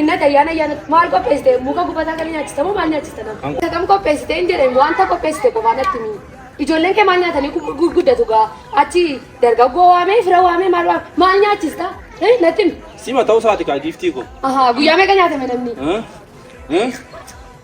Innati ayyaana ayyaana maal qopheessite muka gubataa kana nyaachista moo maal nyaachista nama? Isa kam qopheessite hin jedhe wanta qopheessite qofaa natti himi. Ijoolleen kee maal nyaatanii gu- gu- guddatu gaa achi dargaggoo waamee fira waamee maal waamee maal nyaachista? Eh, Natti himi. Sima ta'uu isaati kaa giiftii koo. Ahaa guyyaa meeqa nyaatame namni? Eh? Eh?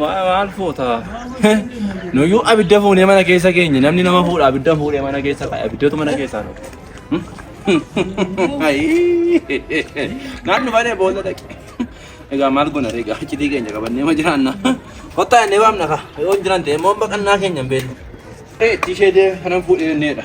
Maal fuuta? Nuyyuu abidda fuunee mana keessa keenya namni nama fuudha abidda fuudhee mana keessa ka'e abiddatu mana keessaa nu. Naan dhufanee boolla dhaqe. Egaa maal goona egaa achitii keenya qabannee ma jiraanna. Kottaa jennee waamna kaa. Yoo hin jiran ta'e immoo baqannaa keenya hin beeknu. Itti ishee deemu kanan fuudhee jenneedha.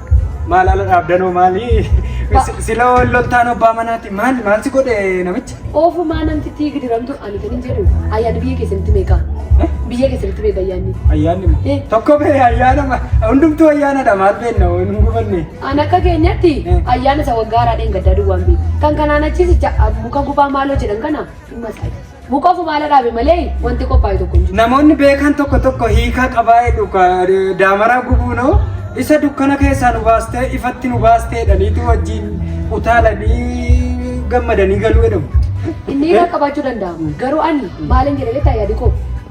Maal ala dhaabdanoo maali? Sila wal loltaan abbaa manaati. Maal maal si godhe namichi? Oofumaa namtittii gidiramtu ani kan hin jedhu ayyaanni biyya keessanitti meeqa? Biyya keessanitti meeqa ayyaanni? Ayyaanni Eh. tokko bee ayyaana ma- hundumtuu ayyaanadha maal beenna hin gubanne. An akka keenyatti Eh. ayyaana isa waggaa haaraa dheengaddaa duwwaan beeku. Kan kanaan achiis ija muka gubaa maaloo jedhan kana hin masaayi. Buqofu maala dhaabe malee wanti qophaa'e tokko hin jiru. Namoonni beekan tokko tokko hiikaa qabaa jedhu ka- daamaraa gubuunoo isa dukkana keessaa nu baastee ifatti nu baastee jedhaniitu wajjin utaalanii gammadanii galuu jedhamu. Inni hiika qabaachuu danda'a. Garuu ani maalin jedhe beektaa yaadi koo.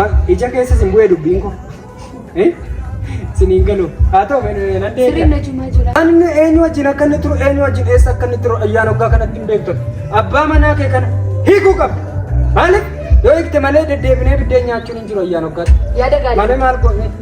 Ma ija keessa sin bu'ee dubbiin koo. Eh? Sin hin galu. Haa ta'u nan Sirriin deebi'a. na jimaa jira. Anni eenyu wajjin akka inni turu eenyu wajjin eessa akka inni turu ayyaana waggaa kanatti hin beektu. Abbaa manaa kee kana hiikuu qabda. Maaliif? Yoo hiikte malee deddeebinee biddeen nyaachuun hin jiru ayyaana waggaatti. Yaada gaarii. Malee maal goone?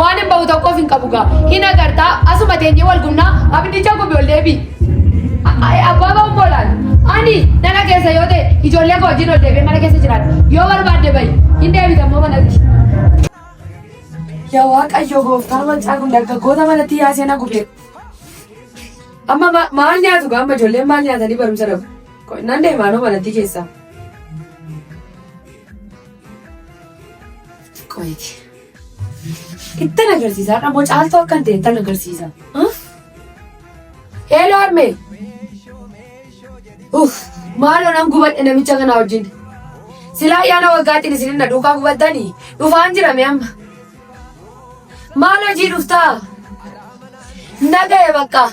Waanin bahu tokkoof hin qabu gaa. Hin agartaa asuma teenyee wal gumnaa abiddicha gubi ol deebi. Abbaa bahu moolaan. Ani nana keessa yoo ta'e ijoollee koo wajjin ol deebi'ee mana keessa jiraadha. Yoo barbaadde bahi hin deebita immoo manatti. Yaa Waaqayyo gooftaan wancaa kun dargaggoota manatti yaa seenaa gubee. Amma ma- maal nyaatu gaa amma ijoolleen maal nyaatanii barumsa dhabu. Ko- Nan deemaanoo manatti keessaa. Qoyiti. Ittan agarsiisa har'a moo caaltuu akkan ta'e ittan agarsiisa. Heeloo harmee. Uff maaloo nan gubadhe namicha kana wajjin. Silaa ayyaana waggaatiin isin na duukaa gubattanii dhufaan jirame amma. Maal hojii dhuftaa? Naga'e bakka.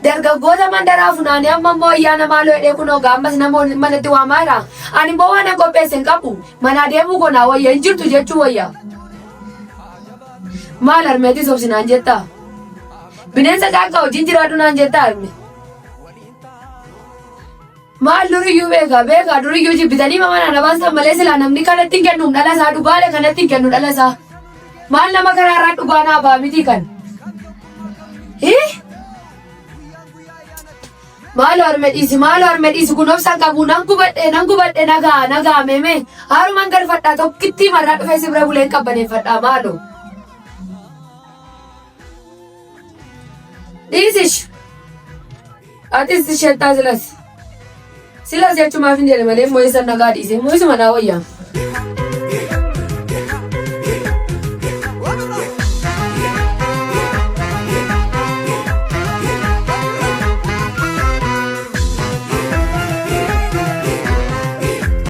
Dargaggoota mandaraa funaanii amma immoo ayyaana maaloo hidhee kunoo gaammas nama waliin manatti waamaa jira. Ani immoo waan hin qopheesse hin qabu. Manaa deemuu koo naa wayya hin jirtu jechuu wayya. Maal harmeetis obsi naan jettaa? Bineensa caakkaa wajjin jiraadhu naan jettaa harme. Maal duriyyuu beekaa beekaa duriyyuu jibbitanii maman arabaan san malee silaa namni kanatti hin kennuum dhala isaa dhugaale kanatti hin kennu dhala isaa. Maal nama karaa irraa dhugaa naa ba'a miti kan. Hii? Maal harme dhiisi maal harme dhiisi kun obsaan qabu nan gubadhe nan gubadhe nagaa nagaa meeme haaruman garfadhaa tokkittii marraa dhufee si bira buleen qabbaneeffadhaa maaloo. Dhiisish. Atis shettaa silas. Silas jechumaaf hin jedhe malee mo'isan nagaa dhiise. Mo'isuma naa wayya.